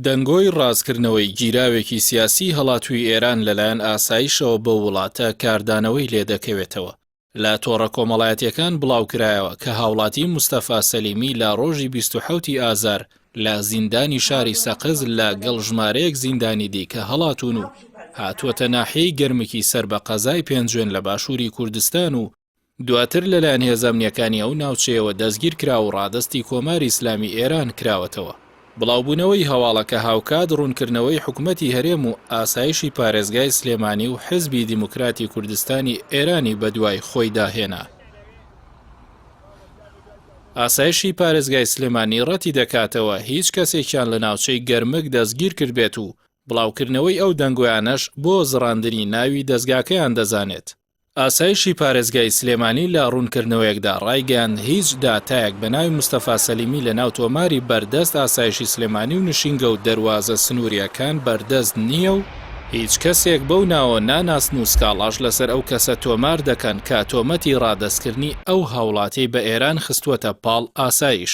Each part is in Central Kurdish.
دەنگۆی ڕاستکردنەوەی گیراوێکی سیاسیی هەڵاتووی ئێران لەلایەن ئاسایشەوە بەو وڵاتە کاردانەوەی لێ دەکەوێتەوە، لە تۆڕە کۆمەڵایەتییەکان بڵاوکرایەوە کە هاوڵاتی مستەفا سەلیمی لە ڕۆژی بیست و حەوت ی ئازار لە زیندانی شاری سەقز لە گەڵ ژمارەیەک زیندانی دیکە هەڵاتوون و هاتووەتە ناحیەی گەرمکی سەر بە قەزای پێنجوێن لە باشووری کوردستان و دواتر لەلایەن هێزە ئەمنییەکانی ئەو ناوچەیەوە دەستگیر کرا و ڕادەستی کۆماری ئیسلامی ئێران کراوەتەوە. بڵاوبوونەوەی هەواڵەکە هاوکات ڕوونکردنەوەی حکومەتی هەرێم و ئاسایشی پارێزگای سلێمانی و حیزبی دیموکراتی کوردستانی ئێرانی بەدوای خۆیدا هێنا. ئاسایشی پارێزگای سلێمانی ڕەتی دەکاتەوە هیچ کەسێکیان لە ناوچەی گەرمک دەستگیر کردبێت و بڵاوکردنەوەی ئەو دەنگۆیانەش بۆ زڕاندنی ناوی دەزگاکەیان دەزانێت. ئاسایشی پارێزگای سلێمانی لە ڕوونکردنەوەیەکدا ڕایگەیاند، هیچ داتایەک بە ناوی مستەفا سەلیمی لەناو تۆماری بەردەست ئاسایشی سلێمانی و نشینگە و دەروازە سنوورییەکان بەردەست نییە و هیچ کەسێک بەو ناوە ناناسن و سکاڵاش لەسەر ئەو کەسە تۆمار دەکەن کە تۆمەتی ڕادەستکردنی ئەو هاوڵاتیەی بە ئێران خستووەتە پاڵ ئاسایش.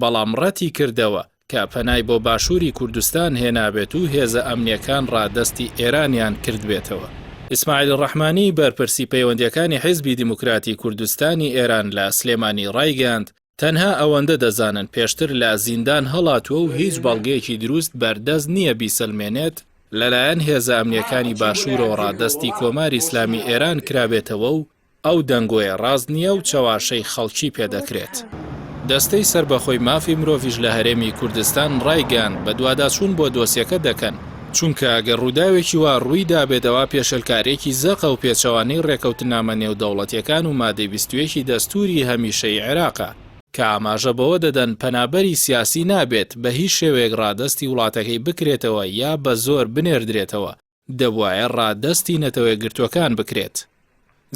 بەڵام ڕەتی کردەوە کە پەنای بۆ باشووری کوردستان هێنابێت و هێزە ئەمنییەکان ڕادەستی ئێرانیان کردبێتەوە. ئیسماعیل ڕەحمانی، بەرپرسی پەیوەندییەکانی حیزبی دیموکراتی کوردستانی ئێران لە سلێمانی ڕایگەیاند، تەنها ئەوەندە دەزانن پێشتر لە زیندان هەڵاتووە و هیچ بەڵگەیەکی دروست بەردەست نییە بیسەلمێنێت لەلایەن هێزە ئەمنییەکانی باشوورەوە ڕادەستی کۆماری ئیسلامی ئێران کرابێتەوە و ئەو دەنگۆیە ڕاست نییە و چەواشەی خەڵکی پێ دەکرێت. دەستەی سەربەخۆی مافی مرۆڤیش لە هەرێمی کوردستان ڕایگەیاند بەدواداچوون بۆ دۆسیەکە دەکەن، چونکە ئەگەر ڕووداوێکی وا ڕووی دابێت ئەوا پێشێلکارییەکی زەقە و پێچەوانەی ڕێکەوتننامە نێودەوڵەتییەکان و مادەی بیست و یەک ی دەستووری هەمیشەیی عێراقە، کە ئاماژە بەوە دەدەن پەنابەری سیاسی نابێت بە هیچ شێوەیەک ڕادەستی وڵاتەکەی بکرێتەوە یا بە زۆر بنێردرێتەوە دەبوایە ڕادەستی نەتەوەیەکگرتووەکان بکرێت.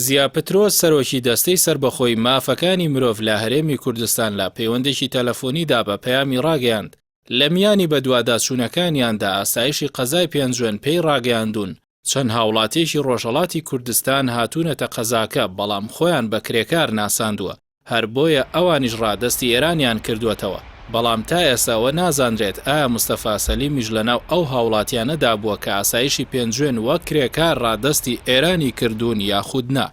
زیا پترۆس سەرۆکی دەستەی سەربەخۆی مافەکانی مرۆڤ لە هەرێمی کوردستان لە پەیوەندێکی تەلەفۆنیدا بە پەیامی ڕاگەیاند، لە میانی بەدواداچوونەکانیاندا ئاسایشی قەزای پێنجوێن پێی ڕاگەیاندوون چەند هاوڵاتییەکی ڕۆژهەڵاتی کوردستان هاتوونەتە قەزاکە بەڵام خۆیان بە کرێکار ناساندووە. هەر بۆیە ئەوانیش ڕادەستی ئێرانیان کردووەتەوە. بەڵام تا ئێستا ئەوە نازانرێت ئایا مستەفا سەلیمیش لەناو ئەو هاوڵاتیانەدا بووە کە ئاسایشی پێنجوێن وەک کرێکار ڕادەستی ئێرانی کردوون یاخود نا.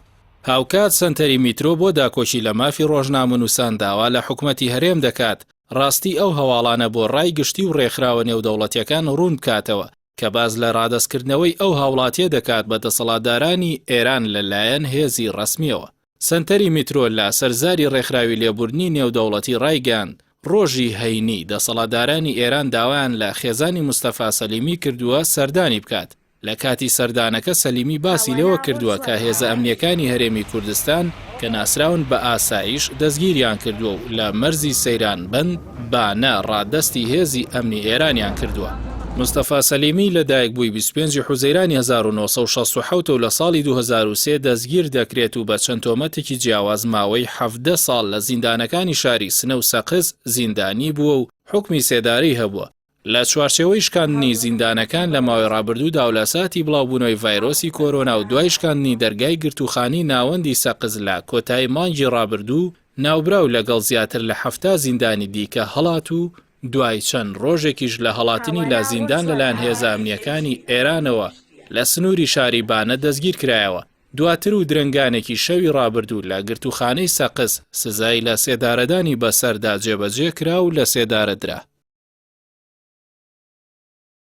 هاوکات سەنتەری میترۆ بۆ داکۆکی لە مافی ڕۆژنامەنووسان داوا لە حکومەتی هەرێم دەکات ڕاستی ئەو هەواڵانە بۆ ڕای گشتی و ڕێکخراوە نێودەوڵەتییەکان ڕوون بکاتەوە کە باس لە ڕادەستکردنەوەی ئەو هاوڵاتییە دەکات بە دەسەڵاتدارانی ئێران لەلایەن هێزی ڕەسمییەوە. سەنتەری میترۆ لە سەر زاری ڕێکخراوی لێبوردنی نێودەوڵەتی ڕایگەیاند، ڕۆژی هەینی دەسەڵاتدارانی ئێران داوایان لە خێزانی مستەفا سەلیمی کردووە سەردانی بکات، لە کاتی سەردانەکە سەلیمی باسی لەوە کردووە کە هێزە ئەمنییەکانی هەرێمی کوردستان کە ناسراون بە ئاسایش دەستگیریان کردووە و لە مەرزی سەیران بەند بانە ڕادەستی هێزی ئەمنی ئێرانیان کردووە. مستەفا سەلیمی لە دایکبووی بیست و پێنج حوزەیرانی هەزار و نۆ سەد و شەست و حەوت و لە ساڵی دوو هەزار و سێ دەستگیر دەکرێت و بە چەند تۆمەتێکی جیاواز ماوەی حەڤدە ساڵ لە زیندانەکانی شاری سنە و سەقز زیندانی بووە و حوکمی سێدارەی هەبووە. لە چوارچێوەی شکاندنی زیندانەکان لە ماوەی ڕابردوودا و لە ساتی بڵاوبوونەوەی ڤایرۆسی کۆرۆنا و دوای شکاندنی دەرگای گرتووخانی ناوەندی سەقز لە کۆتایی مانگی ڕابردوو، ناوبراو لەگەڵ زیاتر لە حەفتا زیندانی دیکە هەڵات و دوای چەند ڕۆژێکیش لە هەڵاتنی لە زیندان لەلایەن هێزە ئەمنییەکانی ئێرانەوە لە سنووری شاری بانە دەستگیرکرایەوە. دواتر و درەنگانێکی شەوی ڕابردوو لە گرتووخانەی سەقز، سزای لە سێدارەدانی بەسەردا جێبەجێ کرا و لە سێدارە درا.